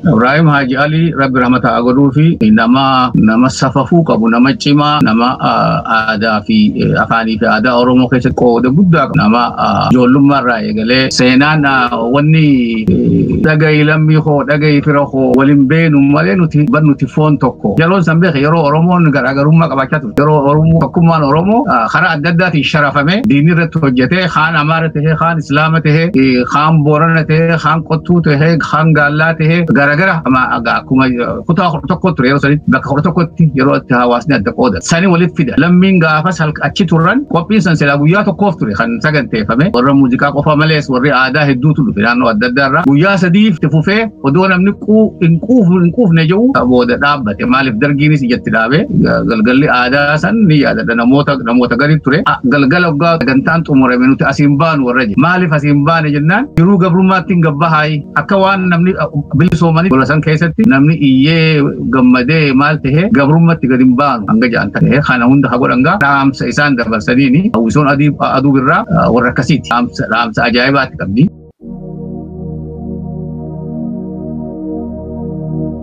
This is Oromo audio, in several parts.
Ibrahim Haji Ali Rabbi Ramata Agoduu fi nama nama safafuu qabu nama cimaa nama aadaa fi afaanii fi aadaa Oromoo keessatti qooda guddaa qabu nama ijoollummaa irraa eegalee seenaan wanni dhagayi lammii koo dhagayi fira koo waliin beenu malee nuti ban nuti foon tokko yeroon san beeke yeroo Oromoon garaagarummaa qabaachaa yeroo Oromoo tokkummaan Oromoo karaa adda addaatiin sharafamee diinii irratti hojjetee kaan Amaara tahee kaan Islaama tahee kaan Boorana tahee kaan Qottuu tahee kaan Gaallaa tahee garagara akkuma kutaa kudha tokko ture yeroo sanitti bakka kudha tokkotti yeroo itti hawaasni adda qooda sani walitti fida lammiin gaafas halka achi turan qophiin san silaa guyyaa tokkoof ture kan saganteeffame warra muuziqaa qofa malees warri aadaa hedduutu dhufe naannoo adda addaa irraa guyyaa sadiif itti fufee Odoo namni hin quufne hin quufne jedhu booda dhaabbate maaliif dargiinis ijatti dhaabe galgalli aadaa san ni yaadadha namoota namoota gadi ture galgala oggaa gantaan xumurame nuti asiin baanu warra jedhe maaliif asiin baane jennaan jiruu gabrummaatti hin gabba haayi akka waan namni bilisoomanii gola san keessatti namni iyyee gammadee maal ta'e gabrummatti gadi hin baanu hanga ja'an ta'e kana hunda haa godhan gaa dhaamsa isaan dabarsaniini hawwisoon aduu birraa warra akkasiiti dhaamsa ajaa'ibaatti qabdi.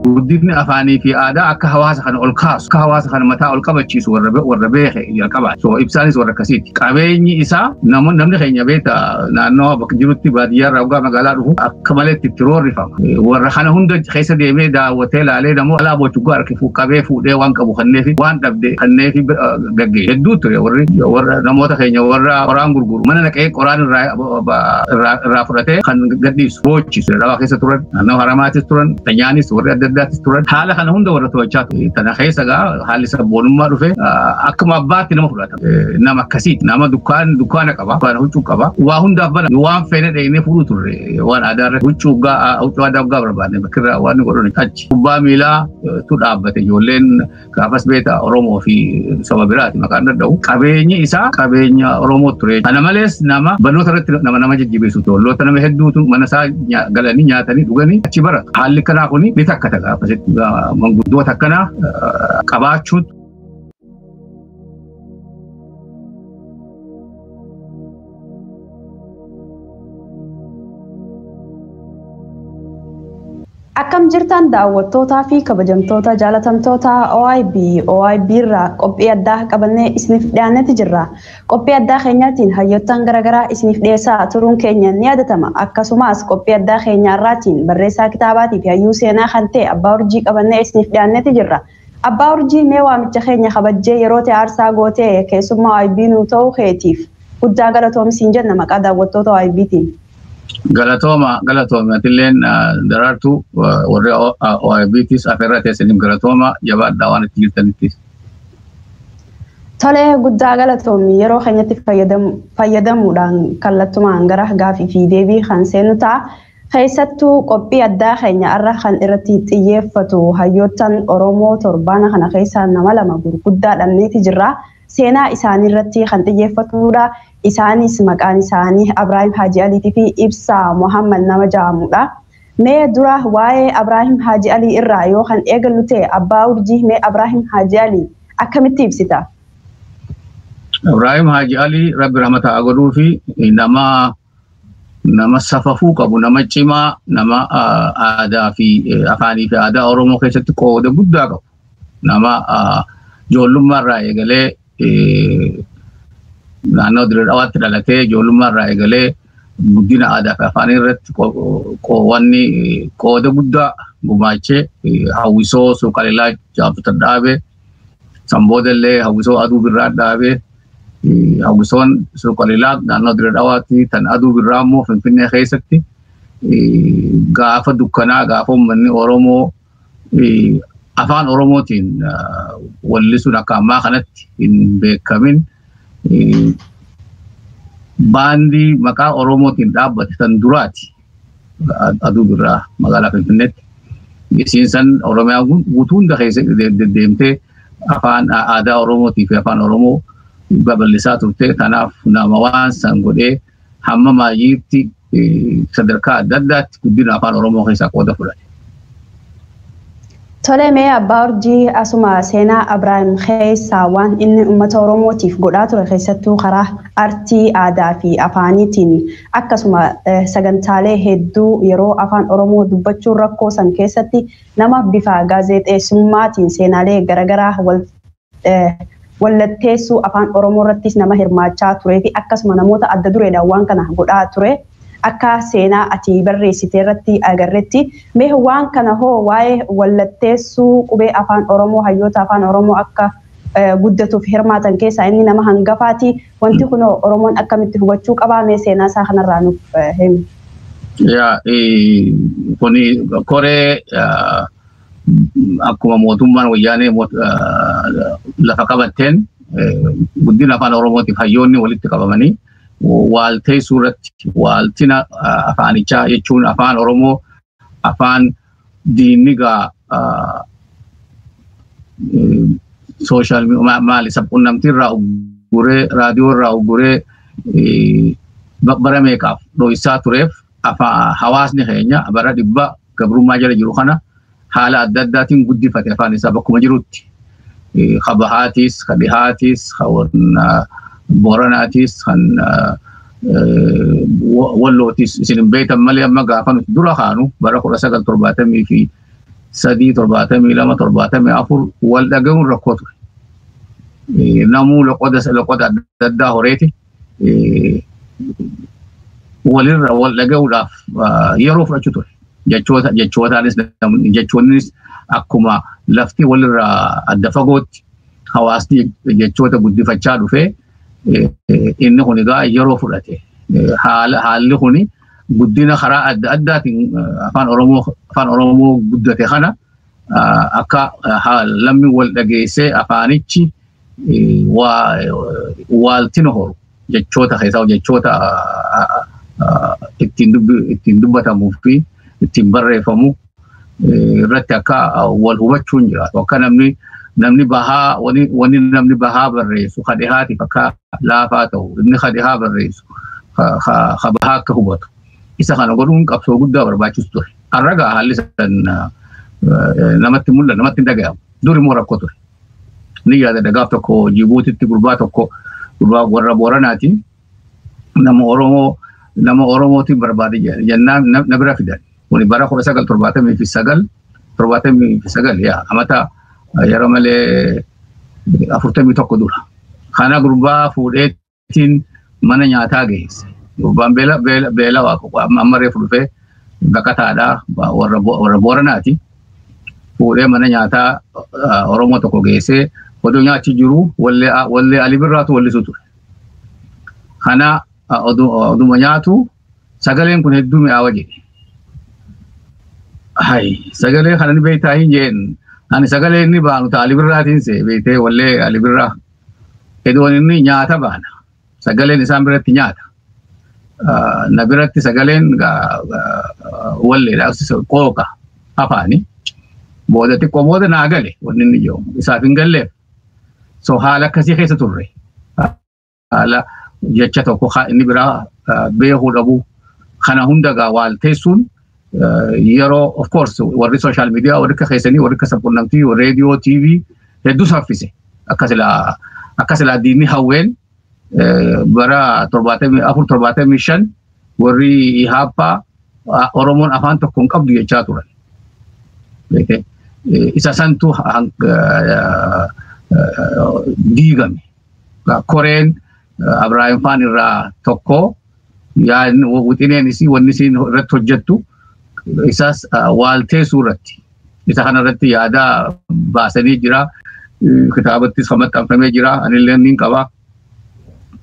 Guddinni afaanii fi aadaa akka hawaasa kana ol kaasu, akka hawaasa kana mataa ol qabachiisu warra be- warra beeke jalqabaati. So ibsaanis warra akkasiiti. Qabeenyi isaa namoonni namni keenya beekta naannoo bakka jirutti baadiyyaa irraa hoggaa magaalaa dhufu akka malee itti itti roorrifama. Eh, Warra kana hunda keessa deemee daawwatee laalee namoo alaa bochuggaa harki fu- qabee fuudhee waan qabu kanneefi waan dhabde kanneefi bira- gaggeessu. Hedduu ture warri warra namoota keenya warra qoraan gurguru mana naqee qoraan irraa irraa fudhatee kan gadhiisu boochisu dawaa keessa turan naannoo haramaatis turan kanyaanis warri adda addaatis turan haala kana hunda warra to'achaa ture kana keessa gaa haalli sabboonummaa dhufe akkuma abbaatti nama fudhata nama akkasii nama dukkaan dukkaana qaba dukkaana huccuu qaba waa hundaaf bana waan feene dheenee fuudhuu turre waan aadaa irratti huccuu gaa huccuu aadaa gaa barbaadne bakkirraa waan godhan achi kubbaa miilaa tu dhaabbate ijoolleen Gaafas beektaa Oromoo fi saba biraati maqaan dadhabu. Qabeenyi isaa qabeenya Oromoo ture. Kana malees nama barnoota irratti nama nama jajjabeessu ture. Olloota nama hedduutu mana isaa nya- galanii nyaatanii dhuganii achi baratu. Haalli akkanaa kun ni takkata gaafasitti. Manguddoota akkanaa eh, qabaachuun Akkam jirtan daawwattootaa fi kabajamtoota jaalatamtoota OIB OIB irraa qophii addaa qabannee isiniif dhiyaannetti jirra. Qophii addaa keenyaatiin hayyoottan garaagaraa isiniif dhiyeessaa turuun keenya ni yaadatama. Akkasumas qophii addaa keenya irraatiin barreessaa kitaabaatii fi hayyuu seenaa kan ta'e Abbaa Urjii qabannee isiniif dhiyaannetti jirra. Abbaa Urjii mee waamicha keenya kabajjee yeroo tee aarsaa gootee keessummaa YB nuu ta'uu keetiif guddaa galatoomi siin jenna maqaa daawwattoota YBtiin. Galatooma galatoomi atilleen daraartuu warri OIBtis afeerraa teessaniif galatooma jabaadhaa waan itti jirtanittis. Tolee guddaa galatoomi yeroo keenyatti fayyadamuudhaan kallattumaan gara gaafii fi deebii kan seenu ta'a. Keessattuu qophii addaa keenya har'a kan irratti xiyyeeffatu hayyoottan Oromoo torbaana kana keessa nama lama gurguddaa dhabneeti jirra. Seenaa isaanii irratti kan xiyyeeffatudha. Isaanis maqaan isaanii Abraahim Haaji Aliitii fi Ibsaa Muhammad nama ja'amudha. Mee dura waa'ee Abraahim Haaji Alii irraa yoo kan eegallu ta'e Abbaa Urjii mee Abraahim Haaji Alii akkamitti ibsita? Ibrahim Haji Ali Rabbi rahmata haa godhuufi nama nama safafuu qabu, nama cimaa, nama ah, aadaa fi eh, afaanii fi aadaa Oromoo keessatti qooda guddaa qabu. Nama ah, ijoollummaa irraa eegalee eh, naannoo Dirree Dhawaatti dhalatee ijoollummaa irraa eegalee guddina aadaa fi afaanii irratti qo- qowanni eh, qooda guddaa gumaachee eh, hawwisoo suuqalilaa jaabbatadhaabe Kan booda illee hawwisoo aduu birraa dhaabee hawwisoon suuqalilaa naannoo Dirree Dhawaatti kan aduu birraa immoo Finfinnee keessatti gaafa dukkanaa gaafa uummanni Oromoo afaan Oromootiin wallisuun akka ammaa kanatti hin beekamin baandii maqaa Oromootiin dhaabbate kan duraati. aduu birraa magaalaa Finfinneetti. Isiin san Oromiyaa guutuu hunda keessa deddeemtee afaan aadaa Oromootii fi afaan Oromoo babal'isaa turte. Kanaaf nama waan san godhee hamma maayyiitti sadarkaa adda addaatti guddina afaan Oromoo keessaa qooda fudhate. Tole mee abbaa urjii asuma seenaa Abraahim keessaa waan inni ummata Oromootiif godhaa ture keessattuu karaa artii, aadaa fi afaaniitiin akkasuma sagantaalee hedduu yeroo afaan Oromoo dubbachuun rakkoo san keessatti nama bifa gaazeexeessummaatiin seenaalee garagaraa wal wallatteessuu afaan Oromoo irrattis nama hirmaachaa turee fi akkasuma namoota adda dureedhaan waan kana godhaa ture akka seenaa ati barreessite irratti agarretti mee waan kana hoo waa'ee wallatteessuu qubee afaan Oromoo hayyoota afaan Oromoo akka guddatuuf hirmaatan keessaa inni nama hangafaati wanti kun Oromoon akkamitti hubachuu qabaa mee seenaa isaa kanarraa nuuf himi. Yaa kuni koree akkuma mootummaan wayyaanee moot- ah, lafa qabatteen eh, guddina afaan oromootiif hayyoonni walitti qabamanii waalteessuu irratti waaltina ah, afaanichaa jechuun afaan oromoo afaan diinnigaa ah, eh, sooshaal mi- ma- maali sabqunnamtii irraa ugguree raadiyoo irraa ugguree eh, ba- bara meeqaaf dho'isaa tureef afa- hawaasni keenya bara dhibba gabrummaa jala jiru kana haala adda addaatiin guddifate afaan isaa bakkuma jirutti. Ka bahaatis, ka dhihaatis, ka booranaatis, kan wallootis isin hin beektan malee amma gaafa nuti dura kaanu bara kudha sagal torbaatamii fi sadii torbaatamii lama torbaatamii afur wal dhagahuun rakkoo ture. Namuu loqoda adda addaa horeeti. walirra wal dhaga'uudhaaf yeroo fudhachuu ture. Jechoota jechootaanis jechoonnis akkuma lafti walirra adda fagootti hawaasni jechoota guddifachaa dhufee inni kun egaa yeroo fudhate haalli kun guddina karaa adda addaatiin afaan oromoo afaan oromoo guddate kana akka lammi wal dhageessee afaanichi waaltin horu jechoota keessaa jechoota ittiin dubbatamuu fi ittiin barreeffamu irratti akka wal hubachuun jiraatu akka namni namni bahaa wani namni bahaa barreessu ka dhihaatiif akka laafaa ta'u inni ka dhihaa barreessu ka bahaa akka hubatu Isa kana godhuun qabsoo guddaa barbaachisu ture. Har'a gaa haalli san namatti mul'atu namatti hin dhagahamu. Dur immoo rakkoo ture. Ni yaadadha gaaf tokko Jibuutitti gurbaa tokko gurbaa warra Booranaatiin nama Oromoo nama Oromootiin barbaade jennaan na bira fidan. Kuni bara kudha sagal torbaatamii fi sagal torbaatamii fi sagal yaa amata yeroo malee afurtamii tokko dura. Kana gurbaa fuudhee ittiin mana nyaataa geesse. Gurbaan beela beela beela waa qofa amma amma reefu dhufee baqataadhaa ba- warra Bo- warra booranaati. Fuudhee mana nyaataa ah, Oromoo tokko geessee oduu nyaachi jiru wallee ah, wallee Ali Birraatu wallisu ture. Kana ah, odu- oduma nyaatu sagaleen kun hedduu mi'aawa jedhe. Hai, sagalee kana ni beektaa hin jeen. Ani sagalee inni baanu ta'a Ali Birraatiin see beektee wallee Ali Birraa. Edwoon inni nyaata baana. Sagaleen isaan biratti nyaata. Na biratti sagaleen walleedhaaf qooqa afaani. Booda xiqqoo booda naa gale wanni inni jedhu isaaf hin galleef. So haala akkasii keessa turre. Haala jecha tokko inni biraa beekuu dhabuu kana hunda gaa waalteessuun yeroo of course warri social media warri akka keessanii warri akka sabqunnamtii warri radio TV hedduu saffise akka silaa akka silaa diinni hawween bara torbaatamii afur torbaatamii shan warri ihaappaa Oromoon afaan tokko hin qabdu jechaa turan. Isa santu diigame. Koreen Abiraayim Faan irraa tokko yaadni- wixineen isii wanni isiin irratti hojjettu isaas ah, waalteessuu irratti isa kana irratti yaada baasanii jira Eh, kitaabattis kan maxxanfamee jira anillee niin qaba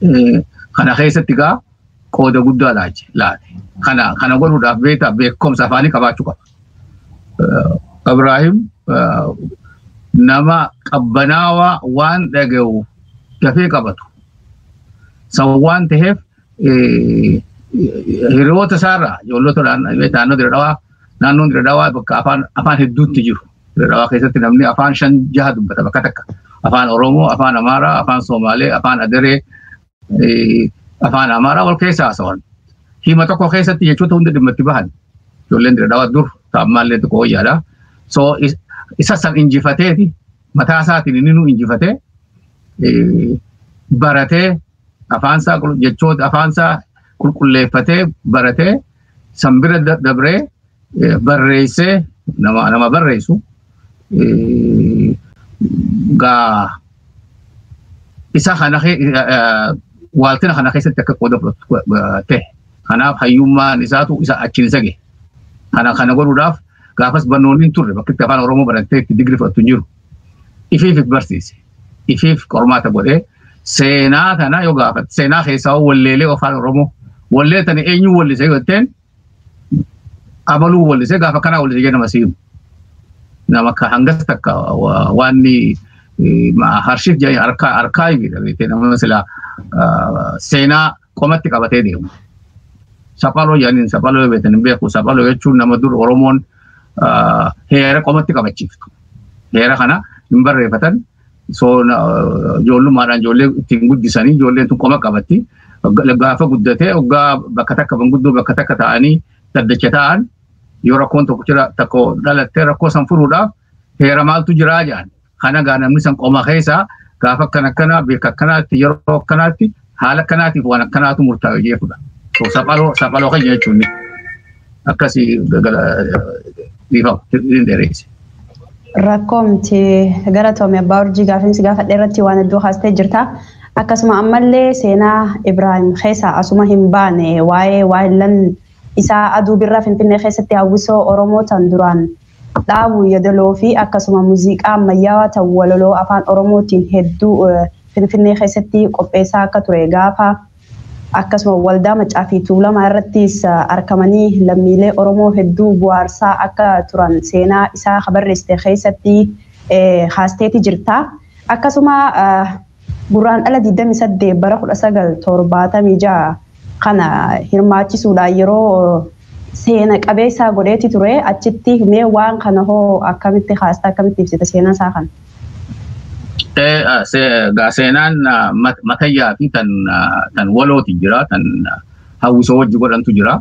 Eh, kana keessatti gaa qooda guddaa laache laate kana kana godhuudhaaf beektaa beekumsa afaanii qabaachuu qaba Abraahim nama qabbanaawaa waan dhaga'u dafee qabatu. San waan ta'eef hiriyoota isaarraa ijoollota naannoo dira dhawaa naannoon dira dhawaa bakka afaan afaan hedduutti jiru. Dira dhawaa keessatti namni afaan shan jaha dubbata bakka takka. Afaan Oromoo, afaan Amaaraa, afaan Somaalee, afaan Adaree, afaan amaaraa wal keessa haasawan hima tokko keessatti jechoota hunda dhimma itti bahan ijoolleen dira dhawaa dur taa'ammaallee tokko wayyaadha so isa san injifateeti mataa isaatiin inni nu injifatee baratee afaansaa jechoota afaansaa qulqulleeffatee baratee san bira da- dabree eh, barreessee nama nama barreessu eh, gaa isa kana ke- eh, eh, waaltina kana keessatti akka qooda fudhatu go- go- ta'e. Kanaaf hayyummaan isaatu isa achiin isa gahe. Kana kana godhuudhaaf gaafas barnoonni hin turre bakka itti afaan Oromoo barattee itti digrii fudhattu hin jiru. Ifiif barsiise. ifiif qormaata godhee seenaa kana yoo gaafate seenaa keessaa hoo walleelee afaan oromoo wallee tana eenyuu wallise yoo jetteen abaluu wallise gaafa kanaa wallise jedhama siimu nama ka hangas takka wa- waanni eh, ma- harshiif jedhanii arkaa arkaayiviidha beekee nama silaa ah, seenaa qomatti qabatee deemu. Saphaloo jedhaniin saphaloo yoo beekan hin beeku. Saphaloo jechuun nama dur Oromoon heera qomatti qabachiiftu. Heera kana hin barreeffatan ijoollummaadhaan ijoollee ittiin guddisanii ijoolleen tun qoma qabatti. Gaafa guddatee oggaa bakka takka manguddoo bakka takka ta'anii daddacha ta'an yoo rakkoon tokko jira tokko dhalattee rakkoo san furuudhaaf heera maaltu jiraa jedhan. Kana gaa namni san qoma keessaa gaafa akkana akkanaa beeka akkanaatti yeroo akkanaatti haala akkanaatiif waan akkanaatu murtaa'e jechuudha. So saphaloo saphaloo keenya jechuun akkasii dhiifama hin dheereesse. Rakkoo miti galatoomi abbaa urjii gaafiinsi gaafadhe irratti waan hedduu haastee jirta. Akkasuma ammallee seenaa Ibraahim keessaa asuma hin baane waa'ee waa'illan isaa aduu birraa Finfinnee keessatti hawwisoo Oromoo tan duraan dhaabu yadaloo fi akkasuma muziiqaa ammayyaawaa ta'u walaloo afaan oromootiin hedduu finfinnee keessatti qopheessaa akka ture gaafa akkasuma waldaa maccaa fi tuulamaa irrattis arkamanii lammiilee oromoo hedduu bu'aarsaa akka turan seenaa isaa habarreessite keessatti haasteeti jirta akkasuma Gurraandhala 28 bara 1976 kana hirmaachisuudhaan yeroo seena qabeessaa godheeti ture achitti mee waan kana hoo akkamitti kaasta akkamitti ibsita seenaa isaa kana? Seenaan matayyaa fi tan walooti jira tan hawwisoo wajji godhantu jira.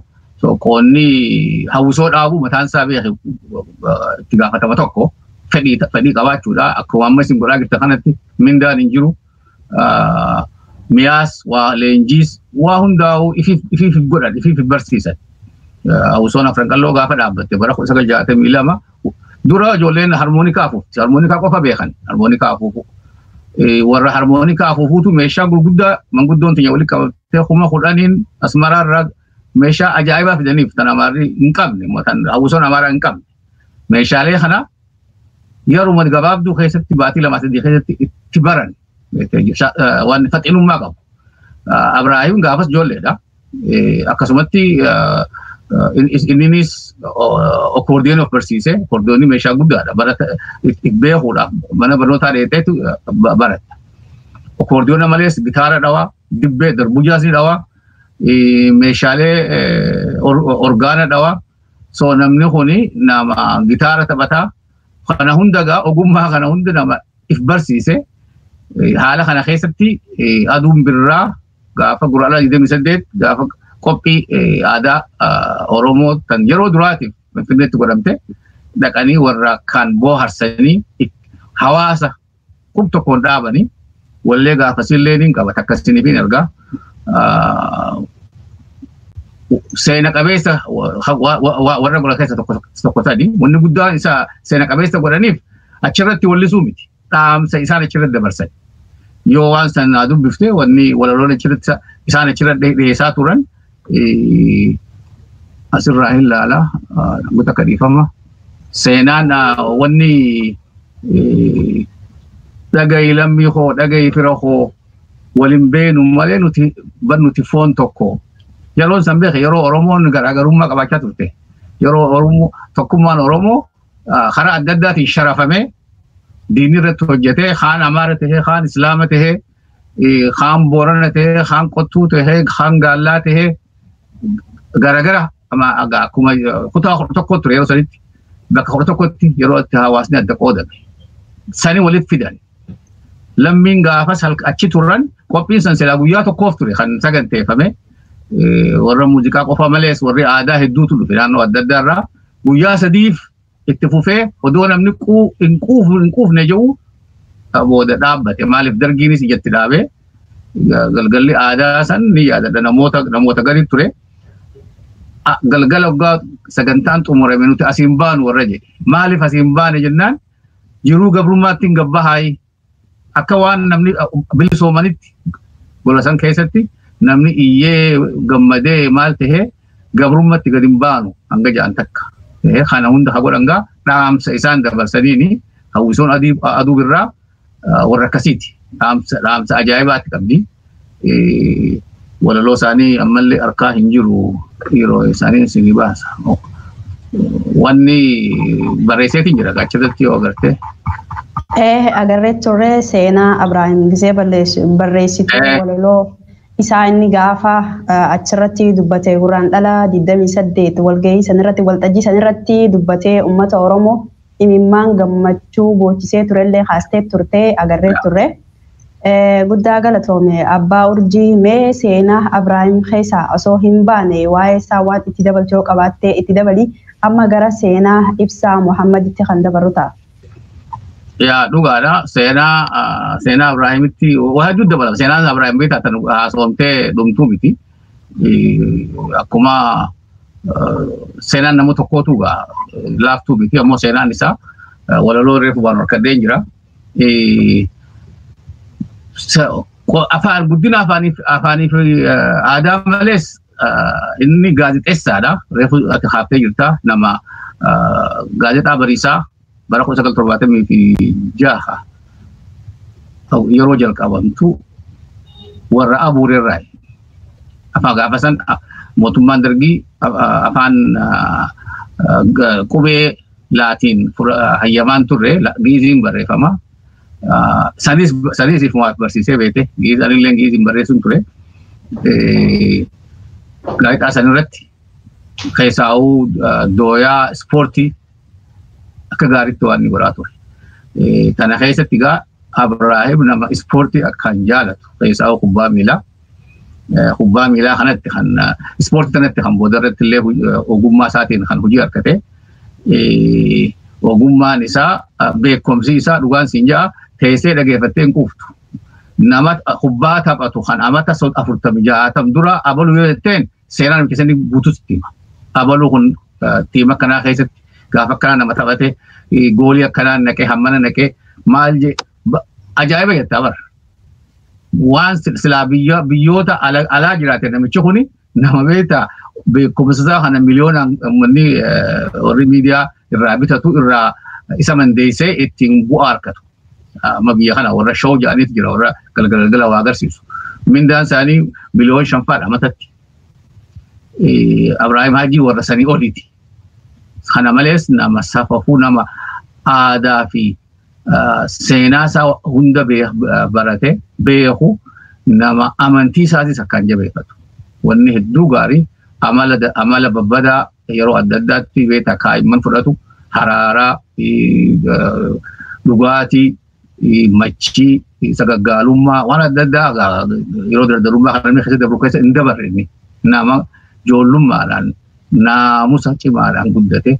qoonni hawwisoo dhaabuu mataan isaa beeke itti gaafatama tokko fedhii fedhii qabaachuudha. Akkuma amma isin godhaa jirta kanatti mindaan hin jiru. Miyaas waa leenjiis waa hundaa'u ifiif godhan ifiif barsiisan. Hawwisoon afran qalloo gaafa dhaabbatte bara kuma sagal jaatamii lama dura ijoolleen harmoonikaa afuufti. Harmoonikaa qofa beekan. Harmoonikaa afuufuu. Warra harmoonikaa afuufuutu meeshaa gurguddaa manguddoon keenya walitti qabattee kuma kudhaniin asmaraarraa meeshaa ajaa'ibaa fidaniif tan amaarri hin qabne immoo tan hawwisoon amaaraa hin qabne meeshaalee kana yeruma gabaabduu keessatti baatii lamaa sadii keessatti itti baran waan faxinummaa qabu. Abraahim gaafas ijoolleedha. Akkasumatti inninis okoordiyoon of barsiise okoordiyoonni meeshaa guddaadha barata beekuudhaaf mana barnootaa dheeteetu barata. Okoordiyoona malees gitaara dhawaa dibbee darbujaas ni dhawaa meeshaalee orgaana dhawa soo namni kun nama gitaara taphataa kana hunda gaa ogummaa kana hunda nama if barsiise haala kana keessatti aduun birraa gaafa guraala 28 gaafa qophii aadaa Oromoo kan yeroo duraatiif Finfinneetti godhamte dhaqanii warra kan booharsanii hawaasa Kun tokkoon dhaabanii wallee gaafasiillee ni qaba takka isiniif hin ergaa. Seena qabeessa warra godha keessa tokko sadi wanni guddaan isa seena qabeessa godhaniif achirratti wallisuu miti. Dhaamsa isaan achirratti dabarsan. Yoo waan sana dubbifte wanni walaloon achirratti isaan achirratti dhiyeessaa turan asirraa hin laala namoota akka dhiifama seenaan wanni dhagayi lammii koo dhagayi fira koo waliin beenu malee nuti bar nuti foon tokko yeroon san beeke yeroo oromoon garaagarummaa qabaachaa turte yeroo oromoo tokkummaan oromoo karaa adda addaatiin sharafamee diinni irratti hojjetee kaan amaara tahee kaan islaama tahee kaan boorana ta'ee kaan qottuu ta'ee kaan gaallaa ta'ee garagara akkuma kutaa kudha tokko ture yeroo sanitti bakka kudha tokkotti yeroo itti hawaasni adda qoodame sani walitti fidan lammiin gaafas achi turan qophiin san silaa guyyaa tokkoof ture kan saganteeffame warra muuziqaa qofa malees warri aadaa hedduutu dhufe naannoo adda addaa irraa guyyaa sadiif itti fufee odoo namni quu- hin quufu hin quufne jiru ka booda dhaabbate maaliif dargiinis ijatti dhaabee ga- galgalli aadaa san ni yaadadha namoota namoota gadi ture A- galgala waggaa sagantaan xumurame nuti asiin baanu warra jedhe maaliif asiin baane jennaan jiruu gabrummaatti hin gabbahaayii Akka waan namni bilisoomanitti gola san keessatti namni iyyee gammadee maal tahee gabrummatti gad hin baanu hanga ja'an takka. Kana hunda ha godhan gaa dhaamsa isaan dabarsaniini hawwisoon aduu birraa warra akkasiiti. Dhaamsa ajaa'ibaatti qabdi. walaloo isaanii ammallee harkaa hin jiru yeroo isaanii isinii baasa. Wanni barreesseetiin jira gaachirratti yoo agarte. Ee agarree turre seenaa Abiraahim Gizee barreessituu walaloo isaa inni gaafa achirratti dubbate gurraan dhala 28 walgahii sanirratti waltajjii sanirratti dubbatee uummata Oromoo imimmaan gammachuu boochisee turellee kaastee turte agarree turre. Guddaa galatoome abbaa urjii mee seenaa Abraahim keessaa osoo hin baane waa'ee isaa waan itti dabaltu yoo qabaattee itti dabali amma gara seenaa ibsaa Muhammaditti kan dabarru ta'a. Yaa dhugaadha seenaa seenaa Abraahimitti waa hedduu dabalama seenaa Abraahim beektaa tan haasofamtee dhumtuu miti akkuma seenaan nama tokkootu egaa laaftuu miti ammoo seenaan isaa walaloo reefu waan harkadheen jira. Afaan guddina afaaniif afaaniif aadaa malees inni gaazexeessaadha. Reefu ati haaftee jirta nama gaazexaa bariisaa bara 1976 yeroo jalqabamtu warra abuurerraa afaan gaafa san mootummaan dargii afaan qubee laatiin hayyamaan turre giiziin barreeffama. Sanis sanis ifumaaf barsiisee beekte giiz anillee giiziin barreessuun ture. Gaazexaa sanirratti keessaa'uu dooyaa ispoortii akka gaariitti waan inni godhaa ture. Tana keessatti egaa Abraahim nama ispoortii akkaan jaalatu keessaa kubbaa miilaa. Kubbaa miilaa kanatti kan ispoortii kanatti kan booda irratti illee ogummaa isaatiin kan hojii argate. Ogummaan isaa beekumsi isaa dhugaan siin ja'a teessee dhageeffattee hin quuftu. Nama kubbaa taphatu kan amata afurtamii jaatam dura abaluu yoo jetteen seeraan keessatti guutuu sitti hima. Abaluu kun tiima kanaa keessatti gaafa akkanaa nama taphate goolii akkanaa naqee hammana naqee maal jee ajaa'iba jettaa bara. Waan silaa biyyoota alaa jiraate namichi kun nama beektaa beekumsa isaa kana miliyoonaan uummanni warri miidiyaa irraa bitatu irraa isa mandeessee ittiin bu'aa argatu. Amma biyya kana warra shoo jedhaniitu jira warra galgala galgala waa agarsiisu. Mindaan isaanii miliyoon shanfaadha matatti. Abiraahim Haajii warra sanii oliiti. Kana malees nama safafuu nama aadaa fi seenaa isaa hunda barate beeku nama amantii isaatis akkaan jabeeffatu. Wanni hedduu gaarii amala amala babbadaa yeroo adda addaatti beektaa kaa'imman fudhatu haraaraa dhugaatii machii sagaggaalummaa waan adda addaa yeroo dardarummaa kan inni keessa dabru keessa hin dabarre inni nama joollummaadhaan naamusa cimaadhaan guddate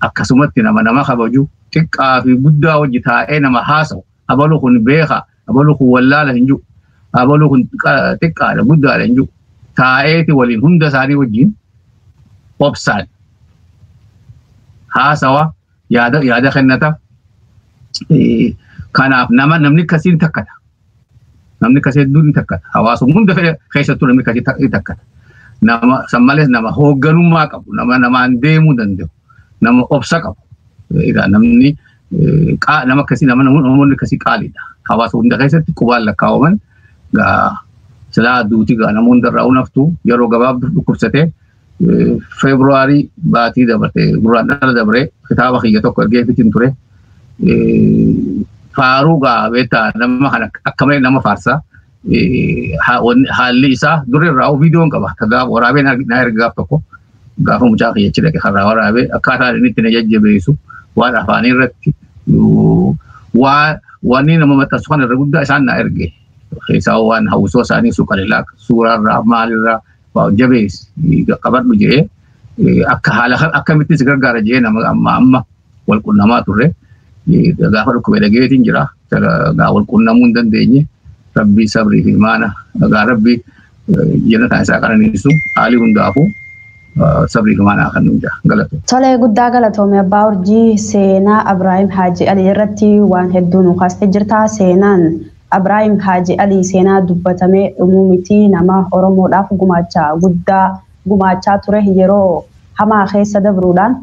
akkasumatti nama nama kabaju xiqqaa fi guddaa hojii taa'ee nama haasa'u abalu kun beeka abalu kun wallaala hin jiru abalu kun xiqqaadha guddaadha hin jiru taa'eeti waliin hunda isaanii wajjin obsaan haasawa yaada yaada kennata kanaaf nama namni akkasii ni takkata namni akkasii hedduu ni takkata hawaasuma hunda keessattuu namni akkasii ni takkata nama san malees nama hoogganummaa qabu nama namaan deemuu danda'u nama obsa qabu namni qaa- nama akkasii nama namoonni namoonni akkasii qaaliidha. Hawaasa hunda keessatti qubaan lakkaa'aman gaa silaa duuti gaa nama hunda irraa unaftu yeroo gabaabduuf dhukkubsatee eh, Feebruwaarii baatii dabartee gurraan dhala dabree kitaaba kiyya tokko ergee fitin ture. Eh, Faaruu gaa beektaa nama kana akka malee nama faarsaa. haalli isaa duri irraa viidiyoon qaba. Akka gaafa waraabee na erga gaaf tokko gaafa mucaa kiyya achi dhaqe karraa waraabee akkaataa inni itti na jajjabeessu waan afaanii irratti waa wanni nama maxxansu kana irra guddaa isaan na erge. Keessaa waan hawwisoo isaanii suuqalilaa suuraarraa maalirraa jabeessi qabadhu jedhee akka haala akkamittis gargaara jedhee nama amma amma wal qunnamaa turre. Gaafa dhukkubee dhageetiin jira. Gaa wal qunnamuu hin dandeenye. Rabbii sabrii fi imaana. Gaa rabbii jennataan isaa qananiisu haalii hundaafuu sabrii fi imaanaa kan nuyi galatu. Tolee guddaa galatoome abbaa urjii seenaa Abiraayim Haaji Alii irratti waan hedduu nu kaastee jirta. Seenaan Abiraayim Haaji Alii seenaa dubbatamee dhumuu miti nama Oromoodhaaf gumaacha guddaa gumaachaa ture yeroo hamaa keessa dabruudhaan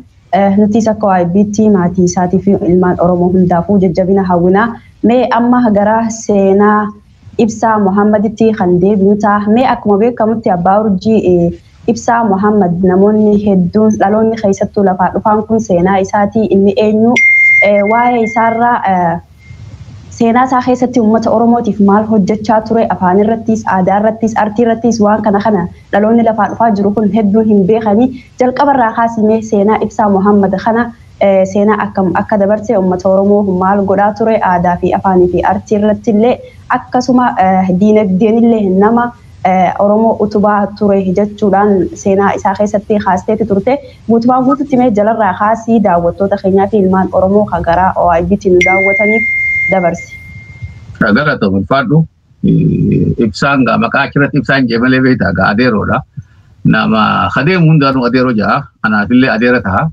Nutiis akka OIBtti maatii isaatiifi ilmaan Oromoo hundaafuu jajjabina hawwina. Mee amma gara seenaa Ibsaa Mohaammaditti kan deebinu ta'a. Mee akkuma beekamutti Abbaa Urjii Ibsaa Mohaammad namoonni hedduun dhaloonni keessattuu lafaa dhufaan kun seenaa isaatii inni eenyu waa'ee isaarraa seenaa isaa keessatti uummata Oromootiif maal hojjechaa ture afaan irrattiis, aadaa irrattiis, artii irrattiis waan kana kana dhaloonni lafaa dhufaa jiru kun hedduun hin beekani. Jalqaba irraa kaasii mee seenaa Ibsaa Mohammad kana seenaa akkam akka dabarse, uummata Oromoo maal godhaa ture, aadaa fi afaanii fi artii irratti illee akkasuma diinagdeen illee nama. Oromoo utubaa ture jechuudhaan seenaa isaa keessatti kaasteeti turte. Guutumaan guututti mee jalarraa kaasii daawwattoota keenyaa fi ilmaan Oromoo ka garaa OIBT nu daawwataniif dabarsi. Galata ulfaadhu. Ibsaan gaa maqaa achirratti ibsaan jee malee beektaa gaa adeeroodha. Nama adeemu hundaanuu adeeroo ja'a. Anaafillee adeera taha.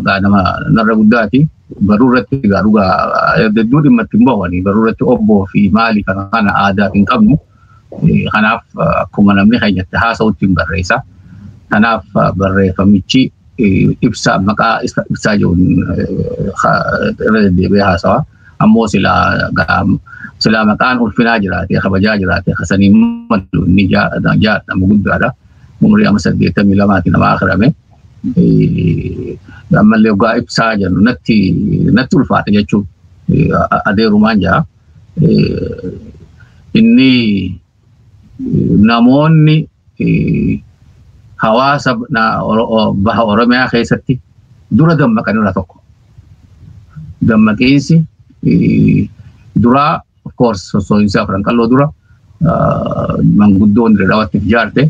gaadama narra guddaati. Baruu irratti egaa dhugaa hedduu dhimma itti hin bahani. Baruu irratti obboo fi maali kana kana aadaaf hin qabnu. Kanaaf akkuma namni keenya itti haasa'utti hin barreessa. Kanaaf barreeffamichi ibsaa maqaa ibsaa jiruun irra deddeebi'ee haasawa. ammoo silaa gaam silaa maqaan ulfinaa jiraate kabajaa jiraate kasanii malu inni jaadhamu guddaadha umrii amma saddeettamii lamaati namaa akirame ammallee ogaa ibsaa jennu natti natti ulfaate jechuun adeerumaan jaa inni namoonni hawaasa baha Oromiyaa keessatti dura dammaqan irraa tokko. Dammaqiinsi duraa of course sossoo'insi afran qalloo dura manguddoon dhawatti ijaarte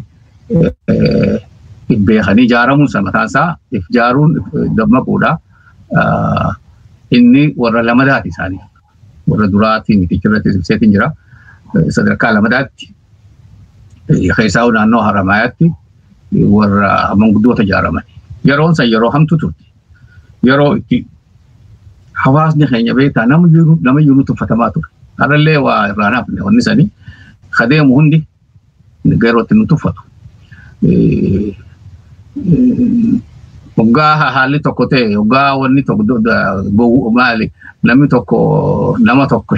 beekanii ijaaramuun sana mataan isaa ijaaruun dammaquudha. Inni warra lamadaati isaanii. warra duraatiin mitichirratti ibseetiin jira. Sadarkaa lamadaatti keessaa naannoo Haramaayaatti warra manguddoota ijaaraman. Yeroon san yeroo hamtu turte. Yeroo itti hawaasni keenya beektaa nama iyyuu nutti uffatamaa ture. Har'allee waa irraa naafne wanni sanii kadeemu hundi yerootti nu tuffatu. Hoggaa haalli tokko ta'e hoggaa wanni tokko gowwu maali namni tokko nama tokko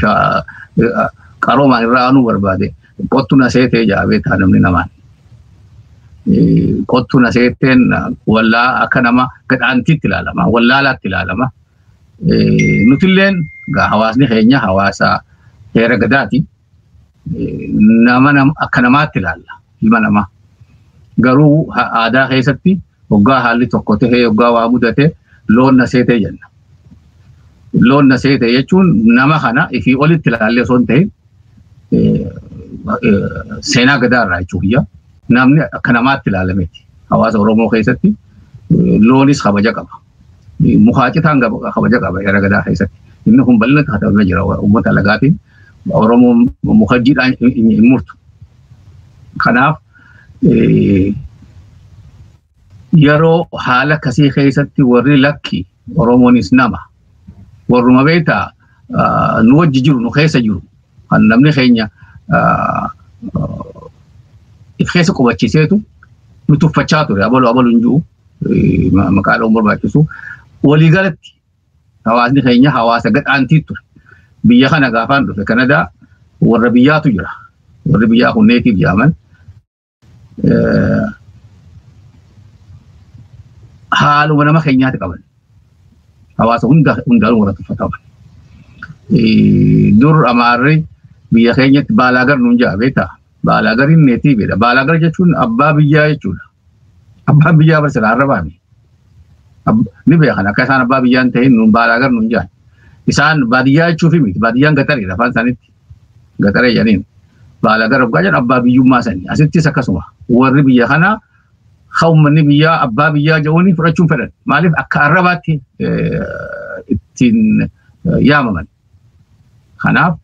qaroomaan irraa aanuu barbaade qottu na seetee jaabee ta'a namni namaan. Qottu na seeteen wallaa akka nama gadhaantiitti ilaalama wallaalaatti ilaalama. Nutilleen hawaasni keenya hawaasa heera gadaati. nama akka namaatti ilaalla ilma namaa. Garuu aadaa keessatti hoggaa haalli tokko ta'ee hoggaa waa mudate loon na seetee jenna. Loon na seetee jechuun nama kana ifii olitti ilaallee osoo hin ta'in seenaa gadaa irraa jechuu biyya namni akka namaatti ilaalameti. Hawaasa Oromoo keessatti loonis kabaja qaba. mukaa citaan kabaja qaba seera gadaa keessatti. Inni kun bal'ina katabamee jira uummata lagaatiin Oromoon muka jiidhaan hin murtu. Kanaaf yeroo haala akkasii keessatti warri lakki Oromoonis nama warruma beektaa nu wajji jiru nu keessa jiru kan namni keenya if keessa qubachiiseetu nu tuffachaa ture abalu abalu hin jiru maqaa dha'uun barbaachisu walii galatti hawaasni keenya hawaasa gadhaantii ture biyya kana gaafaan dhufe kanadaa warra biyyaatu jira warri biyyaa kun neetiif jaaman haaluma nama keenyaatti qaban hawaasa hunda hundaan wal tuffataman. Dur amaarri biyya keenyatti baalaagar nuun ja'a beektaa baalaagar hin neetiividha baalaagar jechuun abbaa biyyaa jechuudha abbaa biyyaa barsiisa arrabaami ni beekan akka isaan abbaa biyyaa hin ta'in nuun baalaagar nuun ja'a isaan baadiyyaa jechuufi miti baadiyyaan gaxariidha afaan isaaniitti Gaxaree jedhaniin. Baala gara dhugaa jedhan abbaa biyyummaa sani. Asittis akkasuma warri biyya kanaa ha uummanni biyyaa abbaa biyyaa jedhuun fudhachuun fedhan. Maaliif akka arrabaatti ittiin yaamaman. Kanaaf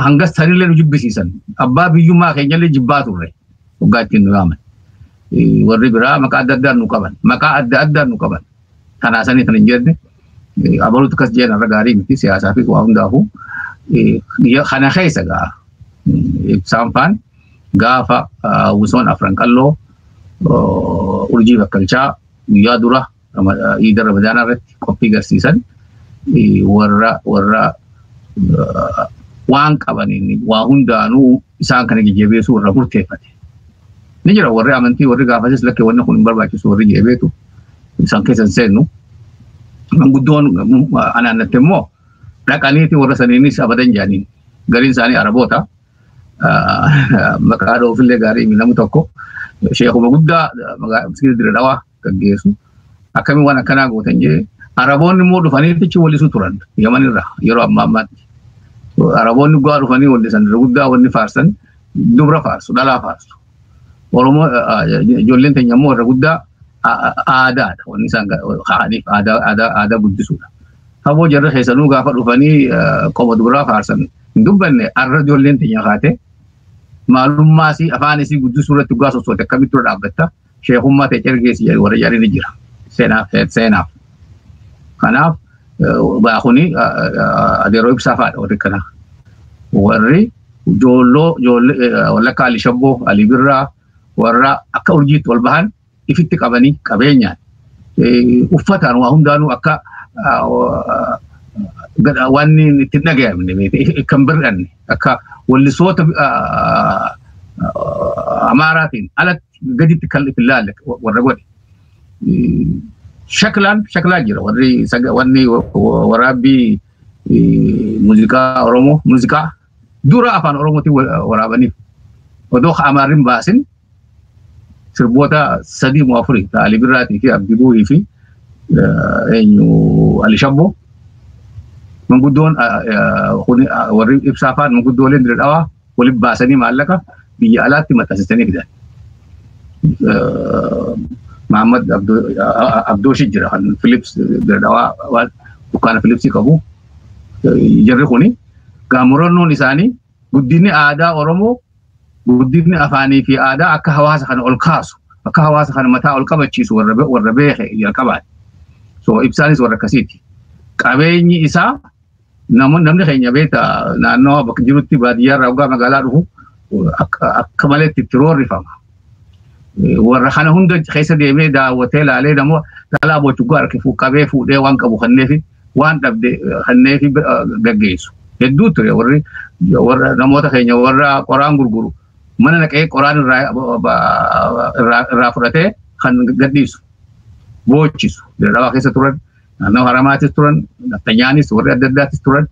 hangas tanillee nu jibbisiisan. Abbaa biyyummaa keenyallee jibbaa turre. Dhugaa ittiin nu yaaman. Warri biraa maqaa adda addaan nu qaban. Maqaa adda addaan nu qaban. Kanaa sanii kan hin jenne abaluutu akkas jeen irra gaarii miti siyaasaa fi waa hundaafuu kana keessa gaa ibsaan faan gaafa wusoon afran qalloo urjii bakkalchaa guyyaa dura iida ramadaanaa irratti qophii garsiisan warra warra waan qabaniin waa hundaanuu isaan kana jajjabeessuu irra murteeffate. Ni jira warri amantii warri gaafasis lakkee wanni kun hin barbaachisu warri jedhe beetu isaan keessa hin seennu. Manguddoon anaannatte immoo dhaqaniiti warra saniinis abadan jedhaniin. Gariin isaanii Araboota. Maqaa dhoofillee gaarii namni tokko sheekuma guddaa magaalaa Dirree Dhawaa gaggeessu. Akkamiin waan akkanaa gootan jee Araboonni immoo dhufanii tichi wallisu turan Yaman irraa yeroo amma ammaatti. Araboonni guddaa dhufanii wallisan irra guddaa wanni faarsan dubra faarsu dhalaa faarsu. Oromoo ijoolleen teenya immoo irra guddaa aadaadha wanni isaan kaa'aniif aadaa guddisuudha. Haboo jarri keessanuu gaafa dhufanii qoba dubraa faarsan hin dubbanne arra ijoolleen teenya kaatee maalummaa isii afaan isii guddisuu irratti dhugaa sossooti akkamitti dura dhaabbatta sheekummaa ta'e cirgeessi jedhu warri jedhan ni jira. Seenaaf seenaaf. Kanaaf baa kuni adeeroo ibsaa faadha warri kanaa. Warri joolloo joollee wallakka Ali Shabboo Ali Birraa warra akka urjiitti ol bahan ifitti qabanii qabeenyaan uffataan waa hundaanuu akka waan itti dhagayamne kan bir'anne akka wallisoota amaaraatiin alatti gaditti kan itti ilaalle warra godhe. Shaklaan shaklaa jira warri wanni waraabbii muuziqaa Oromoo muuziqaa dura afaan Oromootiin waraabaniif odoo Amaarrin baasin sirboota sadii moo afurii Alii Birraatii fi Abdii Buuhii fi eenyu Ali Shabboo manguddoon warri ibsaa faan manguddooleen dira dhawaa walitti baasanii maallaqa biyya alaatti maxxansisanii fidan. Maammad Abdooshi jira kan Filips Diradawaa waan dukkaana Filipsii qabu. Jarri kuni gaamurannoon isaanii guddinni aadaa Oromoo guddinni afaanii fi aadaa akka hawaasa kana ol kaasu akka hawaasa kana mataa ol qabachiisu warra beeke jalqabaati. So ibsaanis warra akkasiiti. Qabeenyi isaa Namoonni namni keenya beekta naannoo bakka jirutti baadiyyaa irraa hoggaa magaalaa dhufu akka akka malee itti itti roorrifama. Warra kana hunda keessa deemee daawwatee ilaalee namoo dhalaa bochuggaa harkifu qabee fuudhee waan qabu kanneefi waan dhabde kanneefi gaggeessu. Hedduu ture warri warra namoota keenya warra qoraan gurguru mana naqee qoraan irraa irraa irraa fudhatee kan gadhiisu boochisu dhalaa keessa turan naannoo haramaatis turan nafxanyaanis warri adda addaatis turan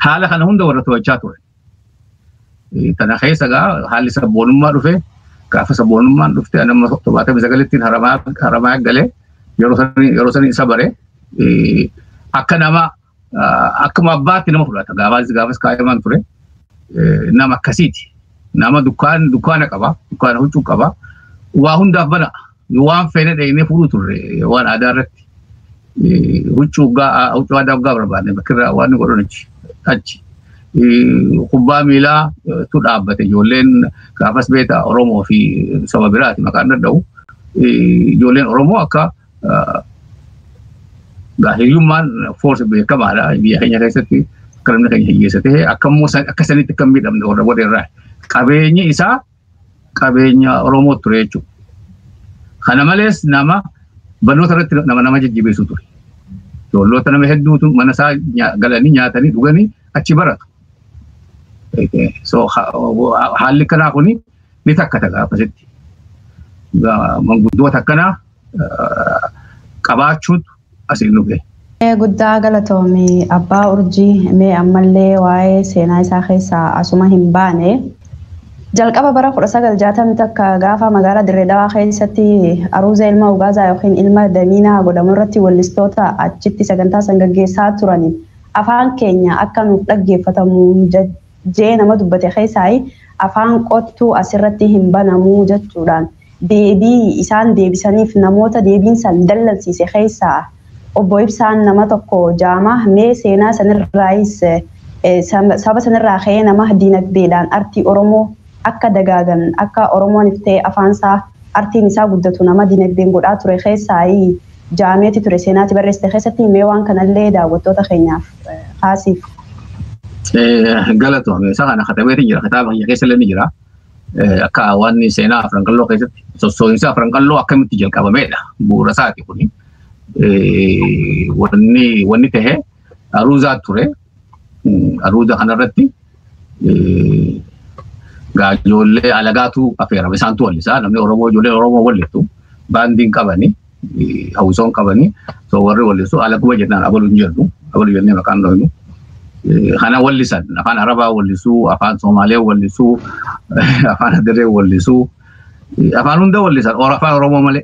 haala kana hunda warra to'achaa turan. Kana keessa egaa haalli sabboonummaa dhufe gaafa sabboonummaan dhufte nama torbaatamii sagalittiin haramaa galee yeroo sanii isa bare akka nama akkuma abbaatti nama fudhata. Gaafas gaafas kaa'imaan ture. Nama akkasiiti. Nama dukkaan dukkaana qaba. Dukkaana huccuu qaba. Waa hundaaf bana. Waan feene dheenee fuudhuu turre waan aadaa irratti. Huccuu huccuu aadaa waggaa barbaadne bakkirraa waan godhan achi. Achi. Kubbaa miilaa tu dhaabbate ijoolleen gaafas beektaa Oromoo fi saba biraati maqaan danda'u. Ijoolleen Oromoo akka hiriyummaan foorsi beekamaadha biyya keenya keessatti akka namni keenya hiyyeessa ta'e akka immoo akka sanitti akka miidhamne warra booda irraa qabeenyi isaa qabeenya Oromoo ture jechuudha. Kana malees nama barnoota irratti nama nama jajjabeessu ture. Ijoolloota nama hedduutu mana isaa galanii nyaatanii dhuganii achi baratu. So haalli kanaa kuni ni takkata gaafasitti. Manguddoota akkanaa qabaachuutu asiin nu gahe. Guddaa galatoomi abbaa urjii mee ammallee waa'ee seenaa isaa keessaa asuma hin baane. Jalqaba bara 1960 takka gaafa magaalaa Dirree Dawaa keessatti Aruuzee ilma Ugaazaa yookiin ilma Damiinaa godhamu irratti wallistoota achitti sagantaa san gaggeessaa turaniin afaan keenya akka nuuf dhaggeeffatamu jee nama dubbate keessaayi afaan qottuu as irratti hin banamuu jachuudhaan deebii isaan deebisaniif namoota deebiin san dallansiise keessaa Obbo Ibsaan nama tokko jaama mee seenaa sanirraayis saba sanirraa ka'ee nama diinagdeedhaan artii Oromoo akka dagaagan, akka Oromoon if ta'ee afaan isaa, artiin isaa guddatu nama dinagdeen godhaa ture keessaayi ja'ameeti ture seenaa ati barreessite keessatti. Mee waan kana illee daawwattoota keenyaaf kaasiif. Galatoomi. Isa kana katabeeti jira. Kitaaba kiyya keessa illee ni jira. Akka waan seenaa Afran Qalloo keessatti sossoo'insa Afran Qalloo akkamitti jalqabameedha. Bu'uura isaati kuni. Wanni ta'e aruuzaa ture. Aruuda kanarratti ijoollee alagaatu affeerama. Isaantu wallisaa namni Oromoo ijoolleen Oromoo wallittu baandiin qabani hawwisoon qabani so warri wallisu alaguma jennaan abalu hin jennu abalu jennee maqaan dhoynu. Kana wallisan afaan Arabaa wallisuu afaan Somaalee wallisuu afaan Adiree wallisuu afaan hunda wallisan afaan Oromoo malee.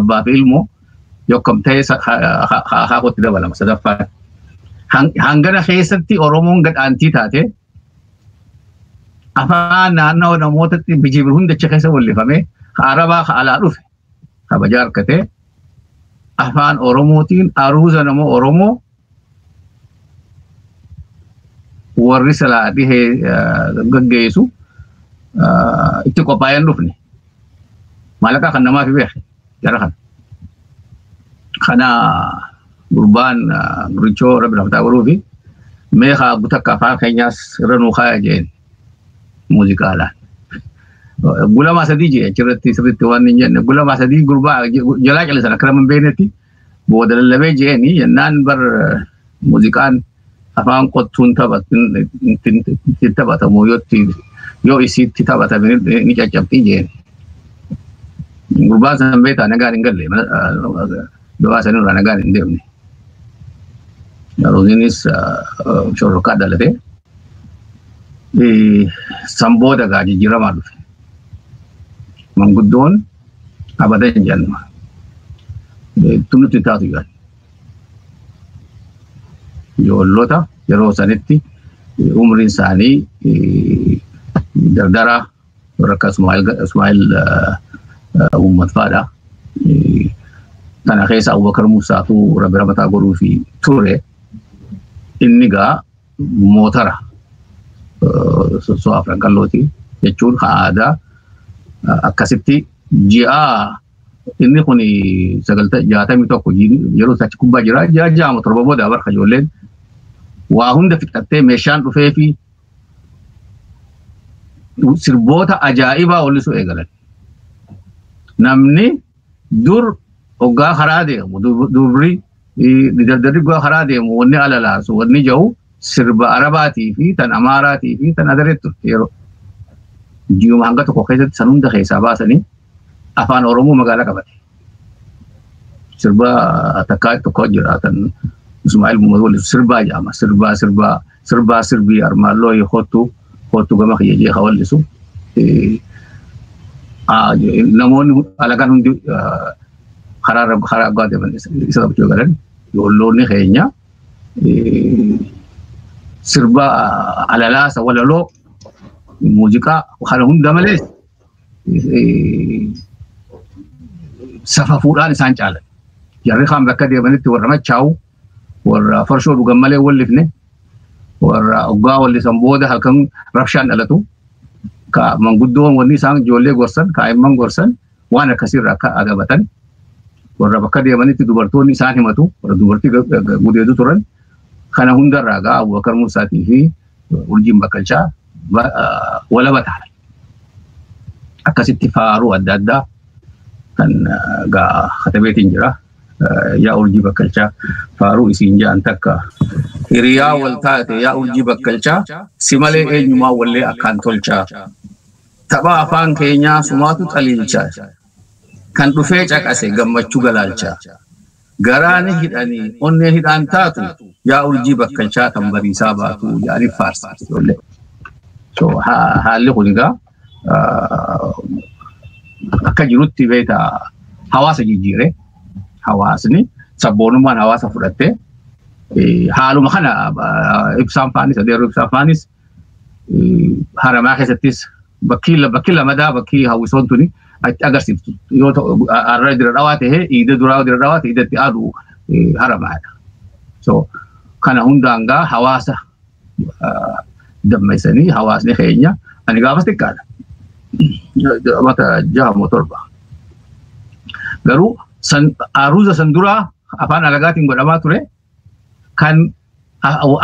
abbaa fi ilmoo yokkam ta'ee akaakootti dabalama sadaffaan. Hangana keessatti Oromoon gad aantii taate afaan naannawa namootatti bijiibir hundacha keessa wallifamee arabaa ka alaa dhufe kabajaa harkatee afaan Oromootiin aruuza nama Oromoo warri silaa dhihee gaggeessu itti qophaa'ee hin dhufne. Maallaqaa kan namaaf beeku jara kana. Kana gurbaan gurichoo rabbi naaf taa godhuufi mee haa gutakka afaan keenyaas irra nuu kaaya jeen muuziqaadhaan. Gulamaa sadii jee achirratti sirriitti waan hin jenne gulamaa sadii gurbaa jalaa callisan akka nama hin beeknetti booda lallabee je'eeni jennaan bar muuziqaan afaan qottuun itti taphatamu yoo isiitti taphatame ni caccabxii jeen. Gurbaan san beekaa nagaan hin galle du'aa sanirraa nagaan hin deemne. Roziinis shorrokaa dhalatee. San booda egaa jijjiiramaa dhufe. Manguddoon abada hin jennu. Tun nutti taatu jedhan. Ijoollota yeroo sanitti umriin isaanii dardaraa warra akka Ismaa'il Uummat fa'aadha. Kana keessa Abubakar Musaatu Rabbi Ramataa godhuufi ture. Inni gaa mootara sossoo afran qallooti jechuun haa aadaa akkasitti ji'a inni kun jaatamii tokko yeroo isaatti kubbaa jira ji'a ja'ama torba booda barka ijoolleen waa hunda fixattee meeshaan dhufee fi sirboota ajaa'ibaa ollisuu eegalan namni Dur hoggaa karaa deemu durri dardarri hoggaa karaa deemu wanni alalaasu wanni jahu sirba arabaatii fi tan amaaraatii fi tan adareetti turte yeroo. Ji'uma hanga tokko keessatti san hunda keessaa baasanii afaan Oromoo magaalaa qabate. Sirba takkaa tokko jira kan Ismaa'il Muhammad waliin sirbaa jedhama. Sirbaa sirbaa sirbaa sirbii armaan looyi kottu kottu gama kiyya jee hawallisu namoonni alagaan hundi karaa irra karaa abbaa deeman isa qabachuu galan ijoolloonni keenya sirba alalaasa walaloo muuziqaa kana hunda malees safafuudhaan isaan caalan jarri kaan bakka deemanitti warra machaa'u warra farshoo dhugan malee wallifne warra oggaa wallisan booda halkan rabshaan dhalatu ka manguddoon wanni isaan ijoollee gorsan kaa'imman gorsan waan akkasiirra akka agabatan warra bakka deemanitti dubartoonni isaan himatu warra dubartii gudeetu turan kana hundarraa gaa Abubakar Musaatii fi Urjiin Bakkalchaa walaba ta'an akkasitti faaruu adda addaa kan gaa katabeetiin jira yaa urjii bakkalchaa faaruu isiin ja'an takka hiriyaa wal taate yaa urjii bakkalchaa si malee eenyumaa wallee akkaan tolchaa tapha afaan keenyaa sumaatu xaliilchaa kan dhufee caqase gammachuu galaalchaa garaa ni hidhanii onnee hidhaan taatu yaa urjii bakkalchaa kan bariisaa baatu yaaniif faarsa ijoollee. So haalli kun egaa akka jirutti beekta hawaasa jijjiire hawaasni sabboonummaan hawaasa fudhattee haaluma kana ibsaan faanis adeerru ibsaan faanis haramaa keessattis bakkii bakkii lamadaa bakkii hawwisoon tuni achi agarsiiftu yoo ta'u har'a dira dhawaa ta'ee iida duraa dira dhawaa ta'ee iidatti aadu haramaadha. So kana hundaangaa hawaasa dammaisanii hawaasni keenya ani gaafas xiqqaadha. Mata jaha moo torba. Garuu aruuza san duraa afaan alagaatiin godhamaa ture kan